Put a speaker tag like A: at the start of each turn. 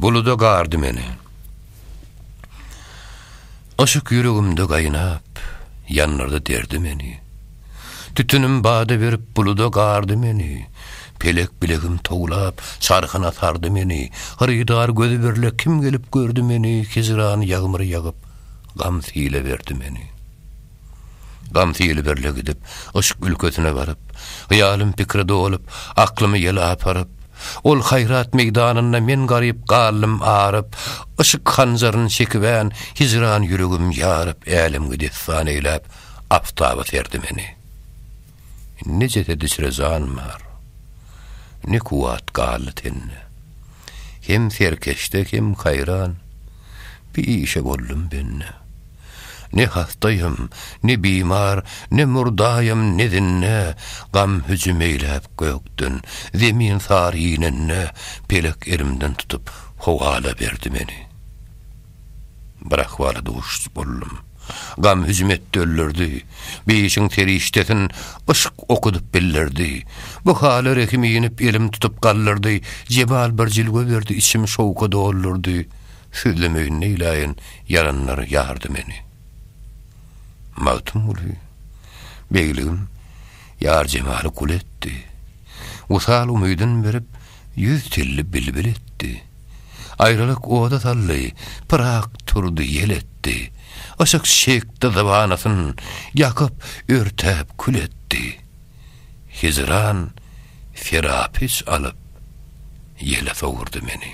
A: Buluda gar dümeni. Yşyk ýüregimde gaýnap, ýandyrdy derdi meni. Tütünim bada berip buluda gardy meni. Pelek bilegim towlap, çarhyna sardy meni. Hyrydar gözi birle kim gelip gördi meni, hijran ýagmyry ýagyp, gam sile berdi meni. Gamsy ýelberle gidip, yşk ülkesine baryp, Hyýalym pikre dolup, aklymy ýel aparyp, Ol haýrat meýdanynda men garyp galdym aryp, Yşk hanjaryn çekibän, hijran ýüregim ýaryp, Älemgi dessan eýläp, aftaba serdi meni. Ne jesed içre jan bar, ne kuwwat galdy tende, Hem serkeşde, hem haýran. Bir işe boldum bende. Ne hastaýam, ne bimar, ne murdaýam, ne zinde, Gam hüjüm eýläp gökden, zemin sary inende, Pelek elimden tutup, howala berdi meni. Bir ahwala duşuş boldum. Gam hüjüm etdi öllerdi. Beýişiň serişdesin Yşk okudyp billerdi. Bu hala rehim inip elim tutup galdyrdy, Jebal bir jilwe berdi içim şowka doldurdy, Sözlemeýin neýläýin ýaranlar ýardy meni. Magtymguly, Begligim, ýar jemaly gul etdi. Wysal umydyn berip, Ýüz telli bilbil etdi. Aýralyk oda saldy, Pyrak turdy ýel etdi. Yşyk çekdi zybanasyn, Ýakyp, örtäp kül etdi. Hijran Serapyç alyp, Ýele sowurdy meni.